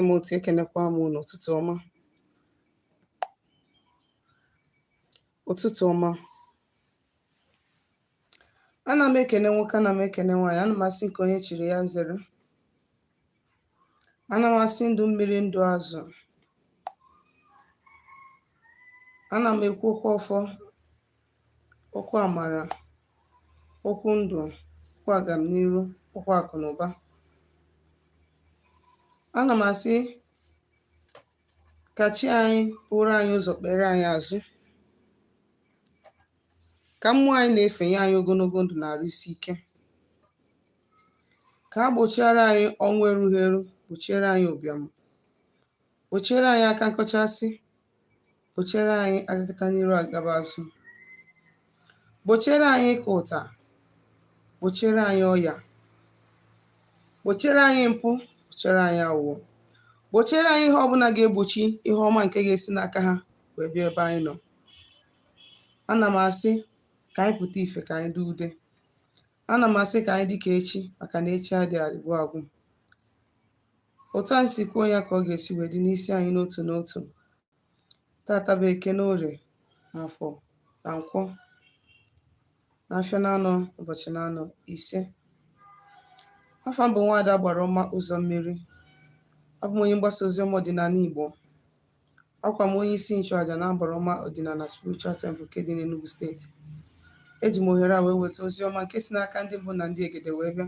m otu ekenekwa m unu ụtụtụ ọma ụtụtụ ọma ana m ekene nwoke ana m ekene nwaanyị ana m asị nke onye chiri ya zere ana m asị ndụ mmiri ndụ azụ ana m ekwu okwu ọfọ okwu amara, okwu ndụ, okwu agamniru, okwu akụ na ụba. Ana m asị ka chi anyị buru anyị ụzọ kpere anyị azụ ka mmụọ anyị na-efe nye anyị ogologo ndụ na arụ isi ike ka ha gbochiara anyị ọnwụ erughị eru gbochiere anyị ụbịam gbochiere anyị aka nkọchasị Gbochiere anyị agakata n'iru agaba azụ. Gbochiere anyị ịka ụta. Gbochiere anyị ọya. Gbochiere anyị mpụ. Gbochiere anyị aghụghọ. Gbochiere anyị ihe ọbụla ga-egbochi ihe ọma nke ga-esi n'aka ha wee bịa ebe anyị nọ. Ana m asị ka anyị pụta ife ka anyị dee ude. Ana m asị ka anyị dị ka echi maka na echi adịghị agwụ agwụ. Otu anyị si kwuo ya ka ọ ga-esi wee dị n'isi anyị n'otu n'otu. tata bụ eke na orie na afọ na nkwọ na afịa na anọ ụbọchị na anọ ise afa m bụ nwaada agbara ọma ụzọ mmiri abụ m onye mgbasa ozi ọma ọdịnala igbo abụkwa m onye isi nchụaja na agbara ọma ọdịnala spiritual temple nke dị n'Enugu steeti eji m ohere a wee weta ozi ọma nke si n'aka ndị mbụ na ndị egede wee bịa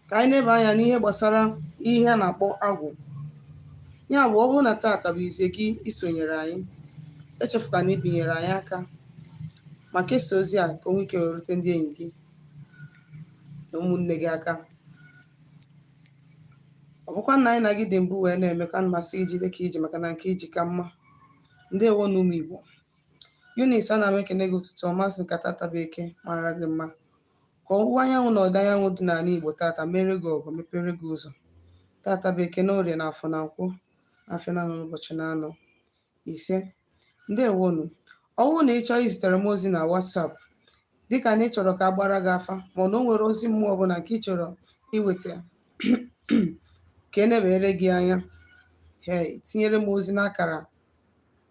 ka anyị neba anya n'ihe gbasara ihe a na-akpọ agwụ ya bụ ọ bụrụ na taata bụ izizi gị isonyere anyị echefukwana ibinyere anyị aka ma kesaa ozi a ka o nwee ike rute ndị enyi gị na ụmụnne gị aka ọ bụkwa na anyị na gị dị mbụ wee na-eme ka m sị gị jide ka i ji maka na nke i ji ka mma ndewonu ụmụ igbo Eunice ana m ekene gị ụtụtụ ọma sị ka tata bụ eke mara gị mma Ka ọwụwa anyanwụ na ọdịda anyanwụ dị n'ala Igbo tata mere gị ọgọ mepere gị ụzọ. Tata bụ Eke na Orie na Afọ na Nkwọ afịa na anọ ụbọchị na anọ ise. Ndewonu. Ọ bụrụ na ị chọọ izitere m ozi na WhatsApp dịka na ị chọrọ ka a gbaara gị afa ma ọ na o nwere ozi mmụọ ọbụla nke ị chọrọ iweta ka e nebere gị anya ee tinyere m ozi n'akara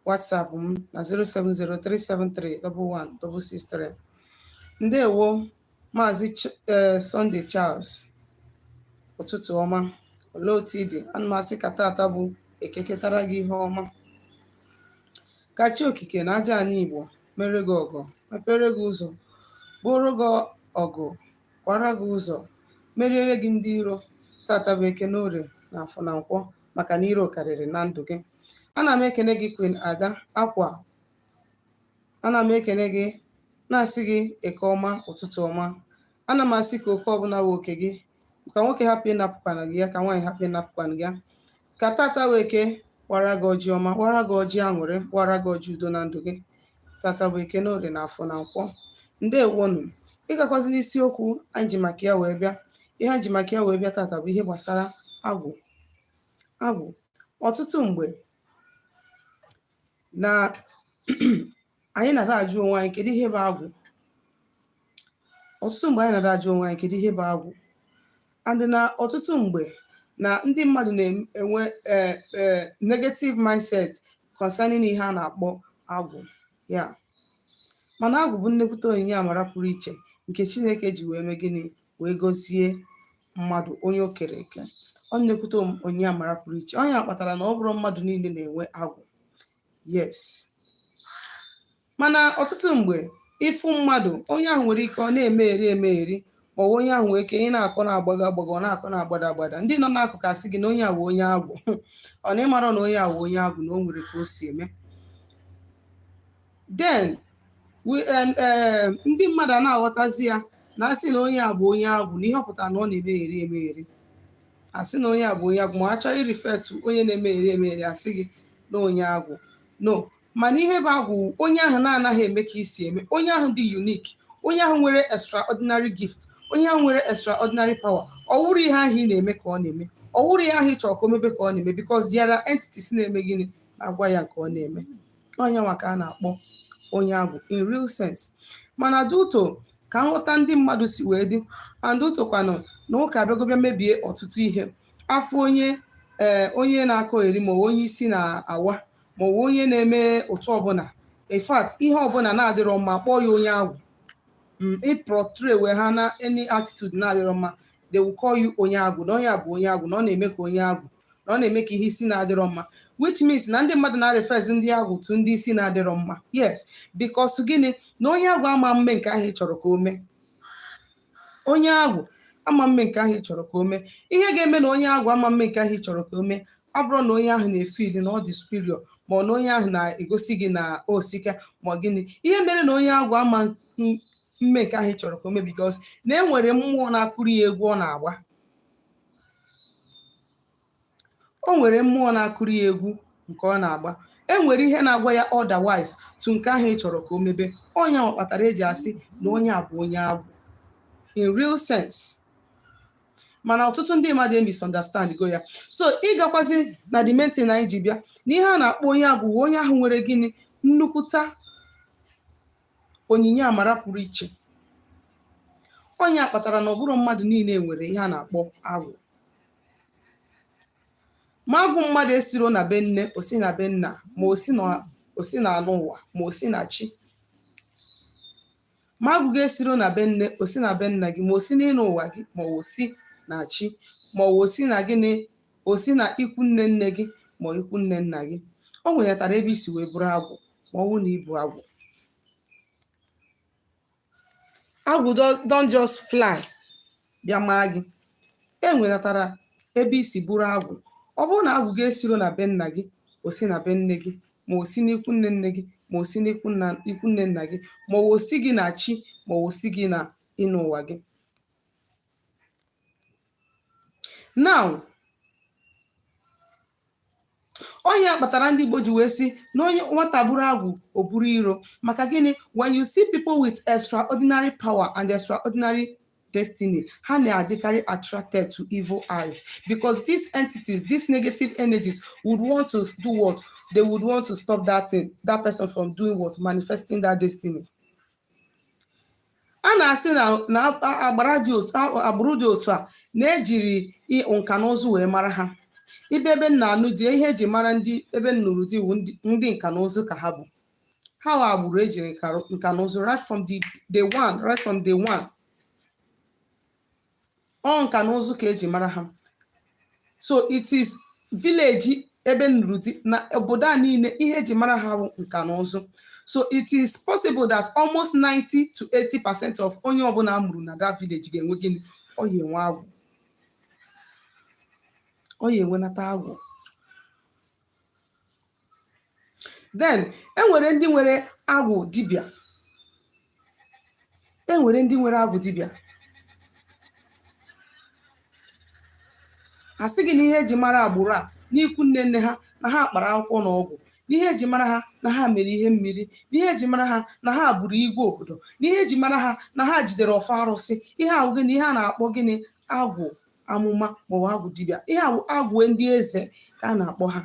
WhatsApp m na 07037311663 ndewo maazị eh, Sunday Charles ụtụtụ ọma olee otu ị dị ana m asị ka tata bụ eke ketara gị ihe ọma ka chi okike na aja anyị igbo mere gị ọgọ mepere gị ụzọ bụrụ gị ọgụ kwara gị ụzọ meriere gị ndị iro tata bụ eke n'orie na afọ na nkwọ maka na iro karịrị na ndụ gị ana m ekene gị Queen Ada Akwa ana m ekene gị na-asị gị eke ọma ụtụtụ ọma ana m asị ka oke ọbụla wụ oke gị ka nwoke hapụ ịnapụkwana gị ya ka nwaanyị hapụ ịnapụkwana gị ya ka tata wụ eke wara gị ọjị ọma wara gị ọjị aṅụrị wara gị ọjị udo na ndụ gị tata bụ eke n'orie na afọ na nkwọ ndewonụ ịgakwazi n'isiokwu anyị ji maka ya wee bịa ihe anyị ji maka ya wee bịa tata bụ ihe gbasara agwụ agwụ ọtụtụ mgbe na anyị na-ada ajụ onwe anyị kedu ihe bụ agwụ ọtụtụ mgbe anyị na-ada ajụ onwe anyị kedu ihe bụ agwụ and na ọtụtụ mgbe na ndị mmadụ na-enwe eh, eh, negative mindset concerning ihe a na-akpọ agwụ yeah mana agwụ bụ nnekwute onyinye amara pụrụ iche nke Chineke ji wee mee gịnị wee gozie mmadụ onye o kere eke ọ nnekwute onyinye amara pụrụ iche ọ ya kpatara na ọ bụrọ mmadụ niile na-enwe agwụ yes mana ọtụtụ mgbe ị fụ mmadụ onye ahụ nwere ike ọ na-emegheri emegheri ma ọ bụ onye ahụ nwere ike ị na-akọ na-agbago agbago ọ na-akọ na-agbada agbada ndị nọ n'akụkụ asị gị na onye a wụ onye agwụ ọ na ị mara na onye a wụ onye agwụ na o nwere ka o si eme then ndị mmadụ ana-aghọtazi ya na a sị na onye a bụ onye agwụ na ihe ọ pụtara na ọ na-emegheri emegheri a sị na onye a bụ onye agwụ ma a chọọ ịrefer to onye na-emegheri emegheri a sị gị na onye agwụ no mana ihe bụ agwụ onye ahụ na-anaghị eme ka i si eme onye ahụ dị unique onye ahụ nwere extraordinary gift onye ahụ nwere extraordinary power ọ wụrọ ihe ahụ ị na-eme ka ọ na-eme ọ wụrọ ihe ahụ ị chọrọ ka o mebe ka ọ na-eme because there are entities na-eme gịnị na-agwa ya nke ọ na-eme onye nwa ka a na-akpọ onye agwụ in real sense mana due to ka nghọta ndị mmadụ si wee dị and due to kwanụ na ụka abịago bịa mebie ọtụtụ ihe a fụ onye ee eh, onye na-akọgheri ma ọ bụ onye isi na-awa ma ọ bụ onye na-eme otu ọbụla in fact ihe ọbụla na-adịrọ mma kpọọ ya onye agwụ mm, ị portray wee ha na any attitude na-adịrọ mma they will call you onye agwụ na onye a bụ onye agwụ na ọ na-eme ka onye agwụ na ọ na-eme ka ihe isi na-adịrọ mma which means na ndị mmadụ na-refers ndị agwụ to ndị isi na-adịrọ mma yes because gịnị na onye agwụ ama mme nke ahụ ị chọrọ ka o mee onye agwụ ama mme nke ahụ ị chọrọ ka o mee ihe ga-eme na onye agwụ ama mme nke ahụ ị chọrọ ka o mee ọ bụrọ na onye ahụ na-efeel na ọ dị superior ma ọ na onye ahụ na-egosi gị na o sika ma gịnị ihe mere na onye agwụ ama mme nke ahụ ị chọrọ ka o mee because na e nwere mmụọ na-akụrụ ya egwu ọ na-agba o nwere mmụọ na-akụrụ ya egwu nke ọ na-agba e nwere ihe na-agwa ya otherwise to nke ahụ ị chọrọ ka o mebe ọ ihe ahụ kpatara eji asị na onye a bụ onye agwụ in real sense mana ọtụtụ ndị mmadụ emisunderstand go ya so ị gakwazi na the main thing anyị ji bịa na ihe a na-akpọ onye agwụ onye ahụ nwere gịnị nnukwute onyinye amara pụrụ iche ọ ihe a kpatara na ọ bụrọ mmadụ niile nwere ihe a na-akpọ agwụ ma agwụ mmadụ esiro na be nne o si na be nna ma o si na- o si na ịnọ ụwa ma o si na chi ma agwụ gị esiro na be nne o si na be nna gị ma o si n'ịnọ ụwa gị ma o si na chi ma o si na gịnị o si na ikwu nne nne gị ma ikwu nne nna gị o nwenatara ebe i si wee buru agwụ ma ọ bụrụ na i bu agwụ agwụ don- don't just fly bịa maa gị e nwenatara ebe i si buru agwụ ọ bụrụ na agwụ gị esiro na be nna gị o si na be nne gị ma o si n'ikwu nne nne gị ma o si n'ikwu nna ikwu nne nna gị ma o si gị na chi ma o si gị na ịnọ ụwa gị now ọ ihe kpatara ndị Igbo ji wee sị na onye nwata buru agwụ o buru iro maka gịnị when you see people with extraordinary power and extraordinary destiny ha na-adịkarị attracted to evil eyes because these entities these negative energies would want to do what they would want to stop that thing that person from doing what manifesting that destiny a na-asị na na a- agbara dị otu a- agbụrụ dị otu a na-ejiri i- nka na ụzụ wee mara ha ị bịa ebe m na-anụ di ihe eji mara ndị ebe m nụrụ di wụ ndị- ndị nka na ụzụ ka ha bụ ha wụ agbụrụ ejiri nka rụ- nka na ụzụ right from the day one right from day one ọ nka na ụzụ ka eji mara ha so it is village ebe m nụrụ di na obodo a niile ihe eji mara ha bụ nka na ụzụ so it is possible that almost 90 to 80 percent of onye ọbụla a mụrụ na that village ga-enwe gịnị ọ ya enwe agwụ ọ ya enwenata agwụ then e nwere ndị nwere agwụ dibịa e nwere ndị nwere agwụ dibịa a sị gị na ihe eji mara agbụrụ a n'ikwu nne nne ha na ha kpara akwụkwọ na ọgwụ n'ihe eji mara ha na ha mere ihe mmiri n'ihe eji mara ha na ha bụrụ igwe obodo n'ihe eji mara ha na ha jidere ọfọ arụsị ihe a wụ gịnị ihe a na-akpọ gịnị agwụ amụma maọbụ agwụ dibịa ihe ahụ agwụ ndị eze ka a na-akpọ ha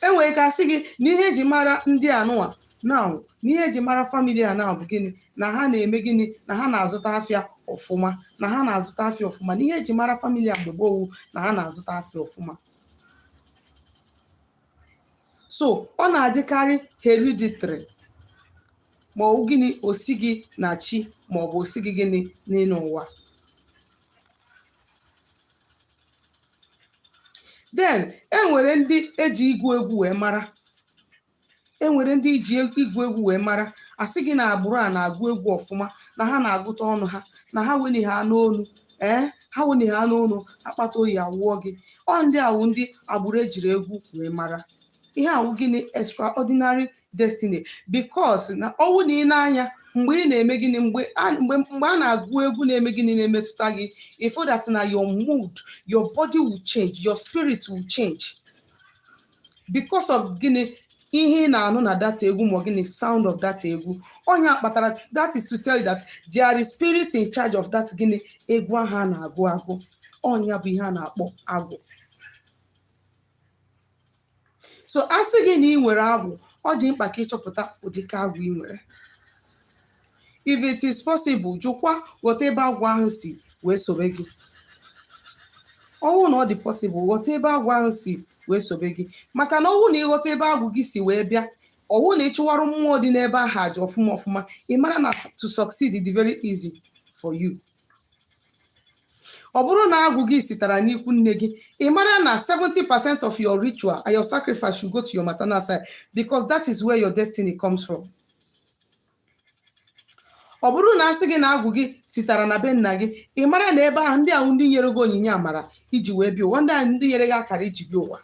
e nwere ka a sị gị na ihe eji mara ndị anụwa now na ihe eji mara family a now bụ gịnị na ha na-eme gịnị na ha na-azụta afịa ọfụma na ha na-azụta afịa ọfụma na ihe eji mara family a mgbe gboo wụ na ha na-azụta afịa ọfụma so ọ na-adịkarị hereditary ma ọ bụ gịnị o si gị na chi ma ọ bụ o si gị gịnị n'ịnọ ụwa then enwere ndị eji ịgụ egwu wee mara enwere ndị eji e, ịgụ egwu wee mara a sị gị na agbụrụ a na-agụ egwu ọfụma na ha na-agụta ọnụ ha na ha weni ha n'onu ee eh, ha weni ha n'onu akpata oyi awụọ gị ọ ndị a wụ ndị agbụrụ ejiri egwu wee mara ihe a wụ gịnị extraordinary destiny because na ọ wụ na ị na-anụ ya mgbe ị na-eme gịnị mgbe a mgbe mgbe a na-agụ egwu na-eme gịnị na-emetụta gị ị fụ that na your mood your body will change your spirit will change because of gịnị ihe ị na-anụ na that egwu ma ọ gịnị sound of that egwu ọ nya kpatara that is to tell you that there is spirit in charge of that gịnị egwu ahụ a na-agụ agụ ọ nya bụ ihe a na-akpọ agwụ so a sị gị na ị nwere agwụ ọ dị mkpa ka ị chọpụta ụdịka agwụ ị nwere if it is possible jụkwa ghọta ebe agwụ ahụ si wee sobe gị ọ wụ na ọ dị possible ghọta ebe agwụ ahụ si wee sobe gị maka na ọ wụ na ị ghọta ebe agwụ gị si wee bịa ọ wụ na ị chụwarụ mmụọ dị n'ebe ahụ aja ọfụma ọfụma ị mara na to succeed dị very easy for you ọ bụrụ na agwụ gị sitara n'ikwu nne gị ị mara na 70 percent of your ritual and your sacrifice should go to your maternal side because that is where your destiny comes from. ọ bụrụ na a sị gị na agwụ gị sitara na be nna gị ị mara na ebe ahụ ndị ahụ ndị nyere gị onyinye amara i ji wee bịa ụwa ndị ahụ ndị nyere gị akara i ji bịa ụwa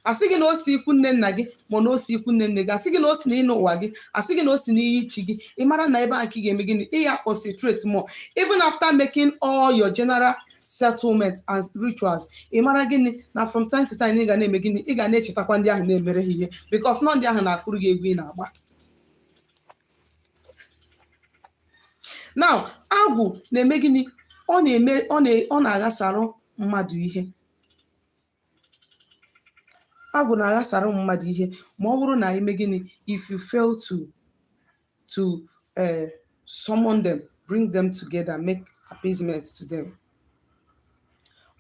asị gị na o si ikwu nne nna gị ma na o si ikwu nne nne gị asị gị na o si n'ịnọ ụwa gị asị gị na o si n'iyi ichi gị ị mara na ebe a ka ị ga-eme gịnị ị ya concentrate more even after making all your general settlement and rituals ị mara gịnị na from time to time ị ga na-eme gịnị ị ga na-echetakwa ndị ahụ na-emere ha ihe because na ọ ndị ahụ na-akụrụ gị egwu ị na-agba now agwụ na-eme gịnị ọ na-eme ọ na- ọ na-aghasarụ mmadụ ihe agwụ na-aghasara ụmụ mmadụ ihe ma ọ bụrụ na ime gịnị if you fail to to uh, summon them bring them together make appeasement to them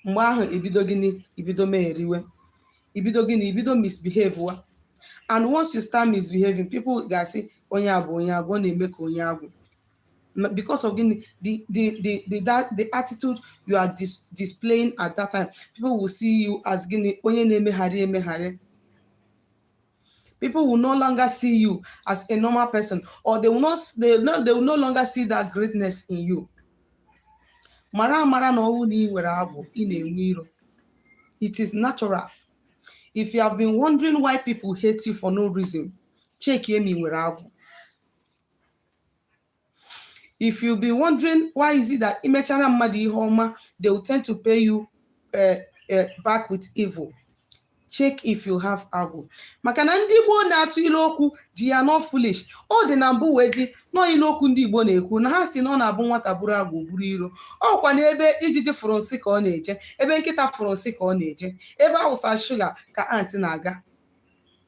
mgbe ahụ ebido gịnị ibido megheriwe ibido gịnị ibido misbehave wa and once you start misbehaving people ga-asị onye a bụ onye agwụ ọ na-eme ka onye agwụ because of the the the the, that, the attitude you are dis, displaying at that time people will see you as gịnị onye na-emegheri emegheri people will no longer see you as a normal person or they will not they, no, they will no longer see that greatness in you mara mara na ọ wụ na ị nwere agwụ ị na-enwe iro it is natural if you have been wondering why people hate you for no reason check ma ị nwere agwụ if you be wondering why is it that imechara mmadụ ihe ọma they will tend to pay you uh, uh, back with evil check if you have agwụ maka na ndị Igbo na-atụ ilu okwu they are not foolish ọ dị na mbụ wee dị nọ ilu okwu ndị Igbo na-ekwu na ha si na ọ na-abụ nwata buru agwụ buru iro ọkwa na ebe ijiji fụrụ nsị ka ọ na-eje ebe nkịta fụrụ nsị ka ọ na-eje ebe awụsa shuga ka ant na-aga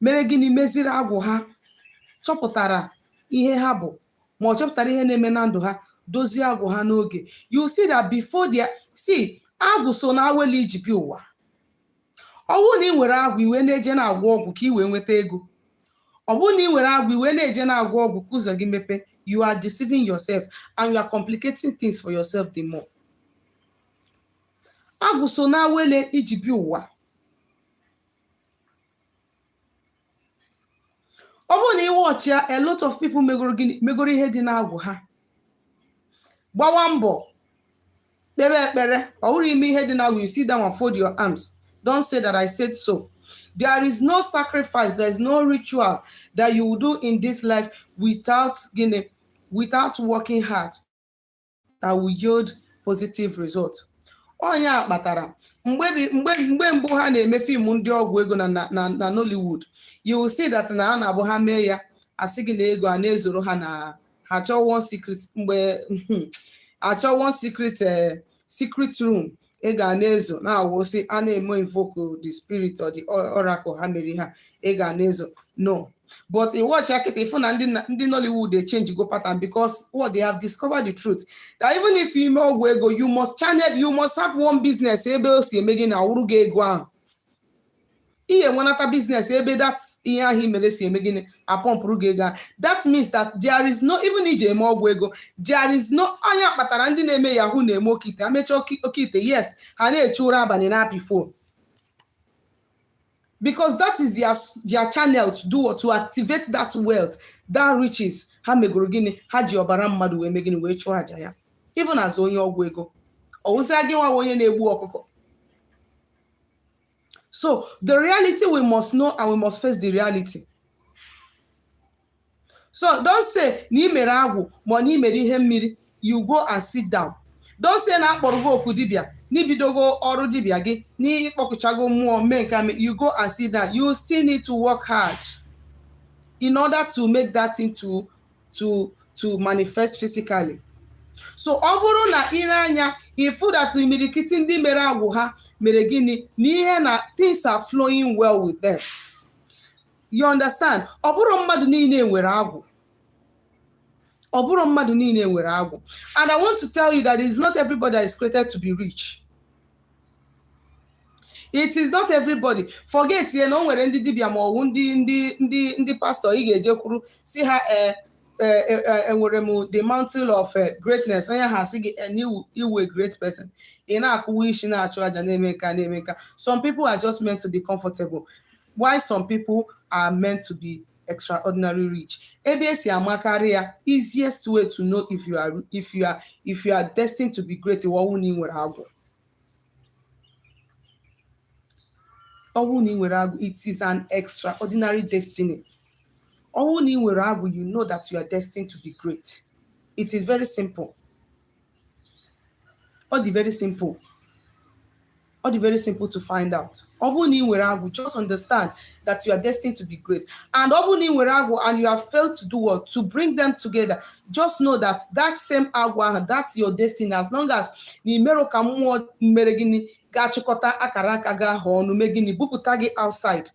mere gịnị meziri agwụ ha chọpụtara ihe ha bụ ma ọ chọpụtara ihe na-eme na ndụ ha dozie agwụ ha n'oge you see that before they see agwụ so na awele i ji bịa ụwa ọ wụ na ị nwere agwụ i wee na-eje na-agwọ ọgwụ ka ị wee nweta ego ọ bụrụ na ị nwere agwụ i wee na-eje na-agwọ ọgwụ ka ụzọ gị mepe you are deceiving yourself and you are complicating things for yourself the more agwụ so na awele i ji bịa ụwa ọ bụrụ na ị watch ya a lot of people megoro gịnị megoro ihe dị n'agwụ ha gbawa mbọ kpebe ekpere ọ bụrụ ime ihe dị n'agwụ you sit down and fold your arms don't say that i said so there is no sacrifice there is no ritual that you will do in this life without gịnị without working hard that will yield positive result ọ nya kpatara mgbe bi- mgbe mgbe mbụ ha na-eme fim ndị ọgwụ ego na na- na na Nollywood you will see that na a na-abụ ha mee ya asị gị na ego a na-ezoro ha na ha chọọ one secret mgbe achọ one secret eh, secret room ego a na-ezo na-awụsị a na-eme invoke the spirit or the or- oracle ha mere ha ego a na-ezo no but ị watch ya kịta ị fụ na ndị na- ndị Nollywood echange go pattern because what they have discovered the truth that even if you ime ọgwụ ego you must channel you must have one business ebe o si eme gịnị awụrụ gị ego ahụ ihe nwenata business ebe that ihe ahụ i mere si eme gịnị apọmpụrụ gị ego that means that there is no even iji eme ọgwụ ego there is no ọ nya kpatara ndị na-eme yahoo na-eme oke ite amecha oke ite yes ha na-eche ụra abalị na-apị phone because that is their, their channel to do what to activate that wealth that riches ha megoro gịnị ha ji ọbara mmadụ wee mee gịnị wee chụọ aja ya even as onye ọgwụ ego ọwụsịa gị nwa onye na-egbu ọkụkọ So the reality we must know and we must face the reality. So don't say na i mere agwụ ma na i mere ihe mmiri you go and sit down. Don't say na a kpọrọ gị oku dibịa na i bidogo ọrụ dibịa gị na ị kpọkuchago mmụọ mee nke a mee you go and sit down. You still need to work hard in order to make that thing to to to manifest physically so ọ bụrụ na ire anya ị fụ that imirikiti ndị mere agwụ ha mere gịnị na ihe na things are flowing well with them you understand ọ bụrọ mmadụ niile nwere agwụ ọ bụrọ mmadụ niile nwere agwụ and i want to tell you that it's not everybody that is created to be rich it is not everybody forget ya na o nwere ndị dibịa ma ọwụ ndị ndị ndị ndị pastor ị ga-ejekwuru sị ha ee enwere m the mantle of eh, greatness onye ha sị gị na ị wụ a great person ị na-akụwa isi na-achụ aja na-eme nka na-eme nka some people are just meant to be comfortable while some people are meant to be extraordinary rich ebe e si amakarị ya easiest way to know if you are if you are if you are destined to be great ọwụ na ị nwere agwụ ọwụ na ị nwere agwụ it is an extraordinary destiny ọwụ na ị nwere agwụ you know that you are destined to be great it is very simple ọ dị very simple ọ dị very simple to find out ọ bụrụ na ị nwere agwụ just understand that you are destined to be great and ọ bụrụ na ị nwere agwụ and you have failed to do what to bring them together just know that that same agwụ ahụ that's your destiny as long as na i merọ ka mmụọ mere gịnị ga-achịkọta akara aka gị ahụ ọnụ mee gịnị bupụta gị outside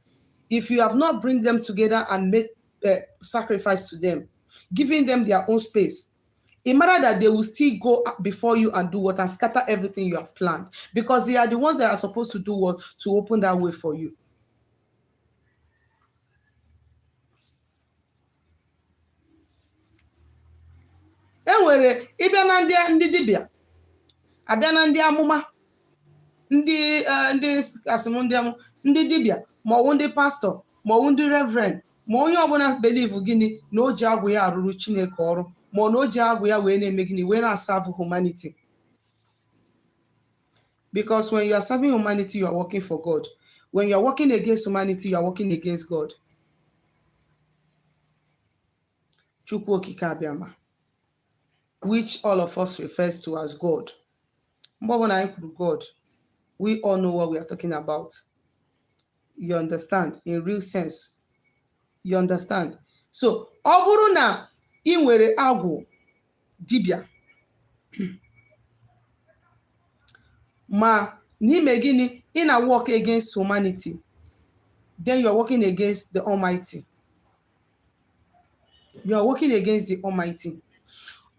if you have not bring them together and make uh, sacrifice to them giving them their own space Ị mata that they will still go before you and do what and scatter everything you have planned because they are the ones that are supposed to do what to open that way for you. enwere ị bịa na ndị ndị dibịa a bịa na ndị amụma ndị e, ndị asị m ndị amụ ndị dibịa maọwụ ndị pastor maọwụ ndị reverend ma onye ọbụla believe gịnị na o ji agwụ ya arụrụ chineke ọrụ ma ọ na o ji agwụ ya wee na-eme gịnị wee na-serve humanity because when you are serving humanity you are working for god when you are working against humanity you are working against god chukwu okike abịama which all of us refers to as god mgbe ọbụla anyị kwuru god we all know what we are talking about you understand in real sense you understand so ọ bụrụ na ị nwere agwụ dibịa mana ị me gịnị ị na-work against humanity then you are working against the almighty you are working against the almighty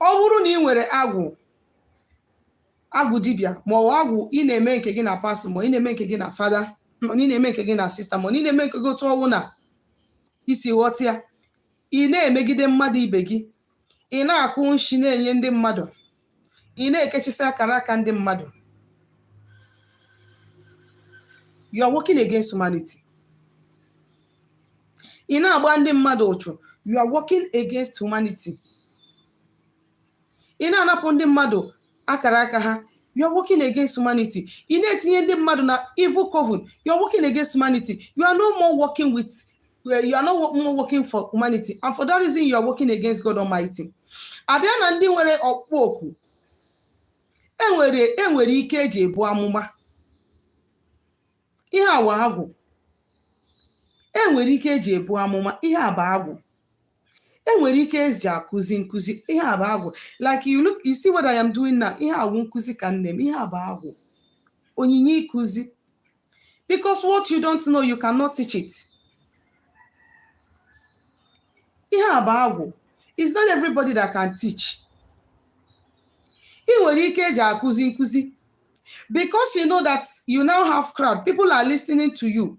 ọ bụrụ na ị nwere agwụ agwụ dibịa ma ọ agwụ ị na-eme nke gị na pastor ma ị na-eme nke gị na father ma ị na-eme nke gị na sister ma ị na-eme nke gị otu ọ wụna i si ghọta ya ị na-emegide mmadụ ibe gị ị na-akụ nshi na-enye ndị mmadụ ị na-ekechisi akara aka ndị mmadụ you are working against humanity ị na-agba ndị mmadụ ụchụ you are working against humanity ị na-anapụ ndị mmadụ akara aka ha you are working against humanity ị na-etinye ndị mmadụ na evil coven you are working against humanity you are no more working with eh, you are no more working for humanity and for that reason you are working against God Almighty abịa na ndị nwere ọkpụkpọ oku enwere ike eji ebu amụma ihe a wụ agwụ enwere ike eji ebu amụma ihe a bụ agwụ enwere ike eji akụzi nkụzi ihe a bụ agwụ like you see what I am doing now ihe a wụ nkụzi ka m na-eme ihe a bụ agwụ onyinye ịkụzi because what you don't know you cannot teach it ihe a bụ agwụ it's not everybody that can teach ị nwere ike eji akụzi nkụzi because you know that you now have crowd people are listening to you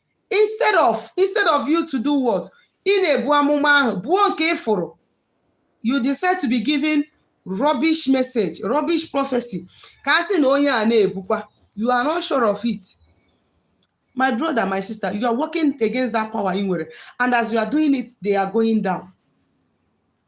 instead of instead of you to do what ị na-ebu amụma ahụ buo nke ịfụrụ you decide to be giving rubbish message rubbish prophecy ka a sị na onye a na-ebukwa you are not sure of it my brother my sister you are working against that power ị nwere and as you are doing it they are going down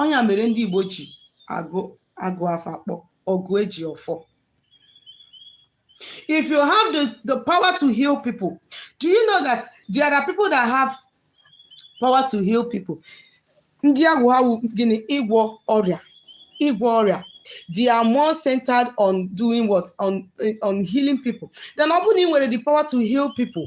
ọ ya mere ndị Igbo ji agụ afa kpọ ọgụ eji ọfọ if you have the power to heal people do you know that there are people that have power to heal people ndị agwụ ha wụ gịnị ịgwọ ọrịa they are more centered on doing what on healing people then ọ bụrụ na ị nwere the power to heal people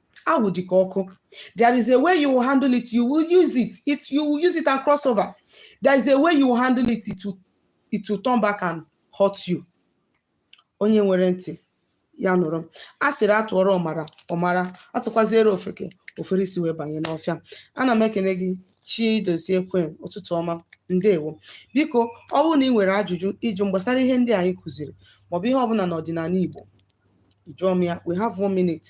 agwụ dị ka ọkụ there is a way you will handle it you will use it it you will use it and cross over there is a way you will handle it it will, it will turn back and hurt you onye nwere ntị ya nụrụ a sịrị a tụọrọ ọmara ọ mara a tụkwaziere ofeke o fere isi wee banye n'ọfịa ana m ekene gị chidozie kwen ụtụtụ ọma ndewo biko ọ bụrụ na ị nwere ajụjụ ịjụ gbasara ihe ndị anyị kụziri maọbụ ihe ọbụla n'ọdịnala igbo jụọ m ya we have one minute